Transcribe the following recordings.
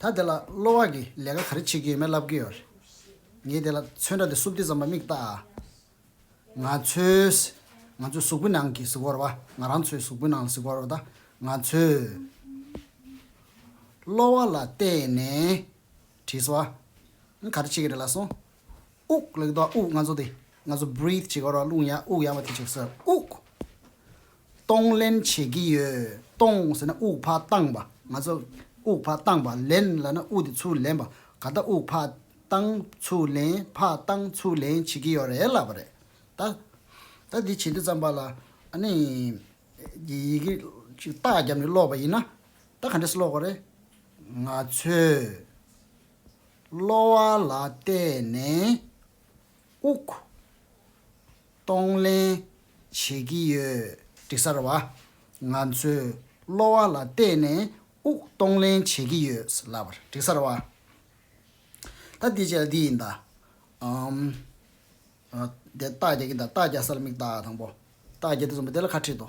ད་དེ་ལ་གློ་བ་གིས་ལས་ཀ་ག་རེ་བྱེད་ཀྱི་ཡོད་མེད་ལབ་ཀྱི་ཡོད་རེད། ངས་དེ་ལ་མཚོན་ཁྲ་དེ་སུབ་ཏི་ཙམ་པ་མིག་ལྟ། ང་ཚོས། ང་ཚོའི་གཟུགས་པོའི་ནང་གི་གཟུགས་བོར་བ། ང་རང་ཚོའི་གཟུགས་པོའི་ནང་ལ་གཟུགས་བོར་བ་དང། ང་ཚོས། གློ་བ་ལ་བལྟས་ནས། དྲིས་བ། ནི་ག་རེ་བྱེད་ཀྱི་རེད་ལ་སོང། དབུགས་ལ་གྱིས་འདུག་ཨ་དབུགས་ང་ཚོ་དེ། ང་ཚོ breathe བྱེད་ཀྱི་རེད་རླུང་ཡང་དབུགས་ཡང་བ་དེ་བྱེད་ཀྱི་སོ། དབུགས། གཏོང་ལེན་བྱེད་ཀྱི་ཡོད། གཏོང་ཟེར་ན་དབུགས་ཕར་བཏང་བ། ང་ཚོ་དབུགས་ཕར་བཏང་བ། ལེན་ལ་ན་དབུགས་དེ་ཚུར་ལེན་པ། ད་ལྟ་དབུགས་ཕར་བཏང་ཚུར་ལེན་ཕར་བཏང་ཚུར་ལེན་བྱེད་ཀྱི་ཡོད་རེད་ལབ་པ་རེད། ད་ད་འདི་བྱེད་འདི་བརྩམས་པ་ལ་ཨ་ནི་ཡི་གེ་ཅིག་ལྟག་བརྒྱབ་ནས་ཀློག་པ་ཡིན་ན་ད་ག་འདྲས་སུ་ཀློག་དགོས་རེད། ང་ཚོས་གློ་བ་ལ་བལྟས་ནས་དབུགས། གཏོང་ལེན་བྱེད་ཀྱི་ཡོད། དྲི་གསར་བ། ང་ཚོས་གློ་བ་ལ་བལྟས་ནས་དབུགས་གཏོང་ལེན་བྱེད་ཀྱི་ཡོད། ལབ་པར། དྲི་གསར་བ། ད་དེ་བྱས་ལ་དེ་ཡིན་ད། ཨམ། དེ་རྟགས་རྒྱག་གིན་ད་རྟགས་རྒྱག་ས་ལ་མིག་བལྟ་དང་པོ། རྟགས་རྒྱག་དེ་ཙམ་པོ་དེ་ལ་ཁ་ཁྲིད་དོ།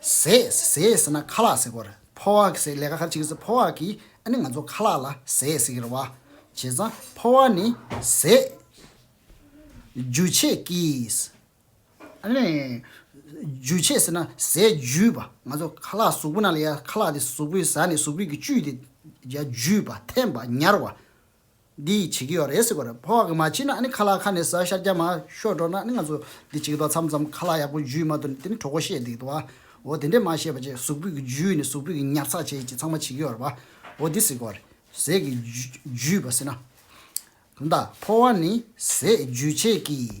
ཟས་ཟས་ཟེར་ན་ཁ་ལག་ཟེར་གོ། ཕོ་བ་ཟས་ལས་ཀ་ཁ་ཅིག་ཟས་ཕོ་བ་གིས་ཨ་ནི་ང་ཚོ་ཁ་ལག་ལ་ཟས་ཟེར་གི་རེད་བ། བྱས་ཙང་ཕོ་བ་ནི་ཟས། འཇུ་བྱེད་ཀྱིས། ཨ་ནི། འཇུ་བྱེད་ཟེར་ན་ཟས་འཇུས་པ་ང་ཚོ་ཁ་ལག་གཟུགས་པོ་ན་ལ་ཡ་ཁ་ལག་དེ་གཟུགས་པོའི་ཟ་ནས་གཟུགས་པོས་ཀྱིས་བཅུས་ཏེ་ཡ་འཇུས་པ་འཐེན་པ་ཉར་བ། འདི་ཡིས་བྱེད་ཀྱི་ཡོད་རེད་ཟེར་བར་ཕོ་བ་གིས་མ་བྱིན་ན་ནི་ཁ་ལག་ཁ་ནས་ཟ་ཤ་རྒྱ་མ་ཤོད་འགྲོ་ན་ནི་ང་ཚོ་འདི་བྱེད་ཀྱི་ཐོག་མཚམས་མཚམས་ཁ་ལག་ཡག་པོ་འཇུས་མ་ཐུབ་ནས་དེ་ནི་གྲོགས་པོ་བཤད་འདི་ཀྱི་ཐོག་འོ་དེ་འདྲས་མ་བཤད་པ་བཅས་གཟུགས་ཕུད་ཀྱི་འཇུས་ནས་གཟུགས་ཕུད་ཀྱི་ཉར་ཚགས་བྱས་ཀྱི་ཚང་མ་བྱེད་ཀྱི་ཡོད་རེད་པ་འོ་འདི་ཟེར་གྱི་རེད་ཟས་ཀྱི་འཇུས་པ་ཟེར་ན། གང་དག་ཕོ་བ་ནི་ཟས་འཇུས་བྱེད་ཀྱི།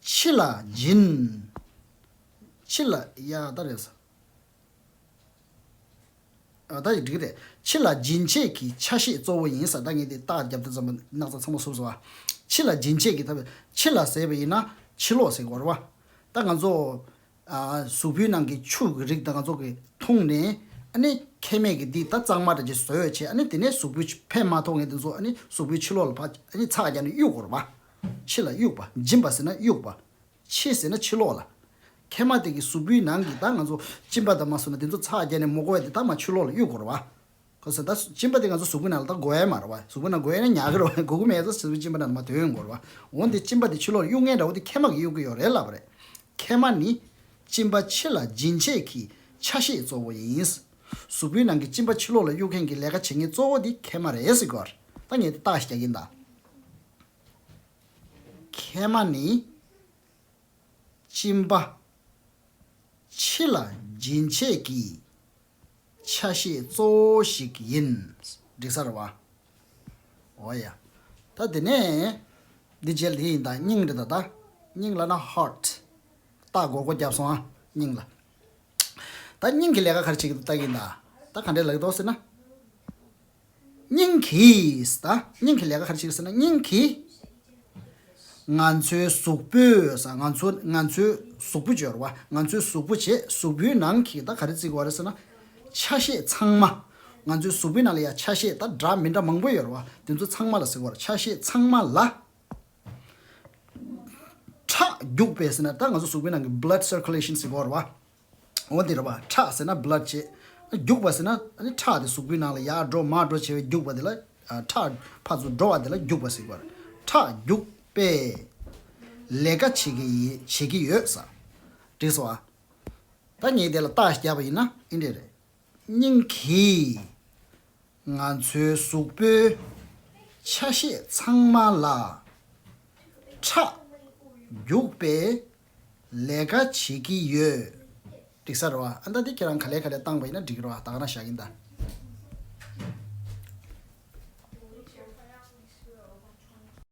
ཕྱི་ལ་སྦྱིན། ཕྱི་ལ་ཡང་ད་རེད། ད་ཡིག་འབྲི་གི་རེད། ཕྱི་ལ་སྦྱིན་ཆད་ཀྱི་ཆ་ཤས་གཙོ་བོ་ཡིན་ས་ད་ངས་དེ་རྟགས་བརྒྱབ་སྟེ་བརྩམས་པ་སྣག་ཚ་ཚང་མ་སུབ་སོང་ཨ། ཕྱི་ལ་སྦྱིན་ཆད་ཀྱི་ད་བས་ཕྱི་ལ་ཟེར་བ་ཡིན་ན་ཕྱི་ལོགས་ཟེར་དགོས་རེད་བ། ད་ང་ཚོ་གཟུགས་པོའི་ནང་གི་ཆུ་གི་རིགས་ད་ང་ཚོ་གིས་འཐུང་ནས་ཨ་ནི་ཁལ་མེད་ཀྱི་འདི་ད་གཙང་མ་རེད་ཅེས་བཟོས་བྱས་ཨ་ནི་དེ་ནས་གཟུགས་པོའི་ཕན་མ་ཐོག་ངས་དེ་ཚོ་ཨ་ནི་གཟུགས་པོའི་ཕྱི་ལོགས་ལ་ཕ་ཨ་ནི་ཚགས་རྒྱག་ནས་གཡུག་དགོས་རེད་བ། ཕྱི་ལ་དབྱུག་པ་སྦྱིན་པ་ཟེར་ན་དབྱུག་པ། ཕྱི་ཟེར་ན་ཕྱི་ལོགས་ལ། ཁལ་མ་དེ་གི་གཟུགས་པོའི་ནང་གི་ད་ང་ཚོ་གཅིན་པ་ད་མ་ཟུག་ན་དེ་ཚོ་ཚགས་བརྒྱད་ནས་མོ་གོ་བས་དེ་ད་མ་ཆུ་ལོགས་ལ་དབྱུག་གོ་ར་བ། གོ་ས་ད་གཅིན་པ་དེ་ང་ཚོ་གཟུགས་པོའི་ནང་ལ་ད་གོ་བས་མ་ར་བ་གཟུགས་པོ་ནང་གོ་བས་ན་ཉག་གི་ར་བ་གོ་གི་མེད་ས་ས་བའི་གཅིན་པ་ད་ན་མ་དོན་གོ་ར་བ། འོན་ཏེ་གཅིན་པ་དེ་ཆུ་ལོགས་ལ་དབྱུག་མཁན་འདྲ་བོ་དེ་ཁལ་མ་གི་དབྱུག་གི་ཡོ་རེད་ལབ་པ་རེད། ཁལ་མ་ནི། གཅིན་པ་ཕྱི་ལ་སྦྱིན་བྱེད་ཀྱི་ཆ་ཤས་གཙོ་བོ་ཡིན། གཟུགས་པོའི་ནང་གི་གཅིན་པ་ཕྱི་ལོགས་ལ་དབྱུག་མཁན་གྱི་ལས་ཀ་བྱེད་མཁན་གཙོ་བོ་དེ་ཁལ་མ་རེད་ཟེར་གོ། ད་ངས་དེ་བརྟགས་ཤིག་རྒྱག་གིན་གདའ། མཁལ་མ་ནི། གཅིན་པ། ཕྱི་ལ་སྦྱིན་བྱེད་ཀྱི། ཆ་ཤས་གཙོ་བོ་ཞིག་ཡིན། འབྲི་སར་བ། འོ་ཡ། ད་དེ་ནས། འདི་འཇལ་དེ་ཡིན་ད་སྙིང་རེད་ད་ད། སྙིང་ལ་ན heart། ལྟག་སྒོར་སྒོ་བརྒྱབ་སོང་ཨ། སྙིང་ལ། ད་སྙིང་གི་ལས་ཀ་ག་རེ་བྱེད་ཀྱི་འདུག་ལྟ་གིན་ད། ད་ག་འདྲའི་ལག་གི་འདུག་ཟེར་ན། སྙིང་གིས། སྙིང་གི་ལས་ཀ་ག་རེ་བྱེད་ཀྱི་ཟེར་ན་སྙིང་གིས། ང་ཚོའི་གཟུགས་པོས། ང་ཚོ་ང་ཚོའི་གཟུགས་པོ་སྦྱོར་བ། ང་ཚོའི་གཟུགས་པོ་བྱེད་གཟུགས་པོའི་ནང་གི་ད་ག་རེ་བརྩི་དགོས་རེད་ཟེར་ན། ཆ་ཤས་ཚང་མ། ང་ཚོའི་གཟུགས་པོའི་ནང་ལ་ཡ་ཆ་ཤས་ད་འདྲ་མི་འདྲ་མང་པོ་ཡོད་རེད་བ། དེ་ཚོ་ཚང་མ་ལ་ཟེར་དགོས། ཆ་ཤས་ཚང་མ་ལ། ཁྲག་རྒྱུགས་པས་ཟེར་ན་ད་ང་ཚོ་གཟུགས་པོའི་ནང་གི blood circulation ཟེར་དགོས་རེད་བ། འོ་འདིར་བ་ཁྲག་ཟེར་ན Blood བྱེད། རྒྱུག་པ་ཟེར་ན་ཁྲག་དེ་གཟུགས་པོའི་ནང་ལ་ཡར་འགྲོ་མར་འགྲོ་བྱེད་པས་རྒྱུག་པ་དེ་ལ་ཁྲག། ཕར་ཚུར་འགྲོ་བ་དེ་ལ་རྒྱུག་པ་ཟེར། ཁྲག་རྒྱུག་པས་ལས་ཀ་བྱེད་ཀྱི་བྱེད་ཀྱི་ཡོད་ས། བྲིས་སོ་ཨ། ད་ངས་དེ་ལ་རྟགས་བརྒྱབ་པ་ཡིན་ན་ཨིན་འདྲེ་རེད། སྙིང་གིས་ང་ཚོའི་གཟུགས་པོའི་ཆ་ཤས་ཚང་མ་ལ་ཁྲག་རྒྱུག་པས་ལས་ཀ་བྱེད་ཀྱི་ཡོད། འགྲིག་ས་རེད་བ། ཨ་མདའ་འདི་ཁྱེད་རང་ག་ལས་ག་ལས་བཏང་བ་ཡིན་ན་འགྲིག་གི་རེད་བ་ད་ག་རང་བཞག་གིན་ད།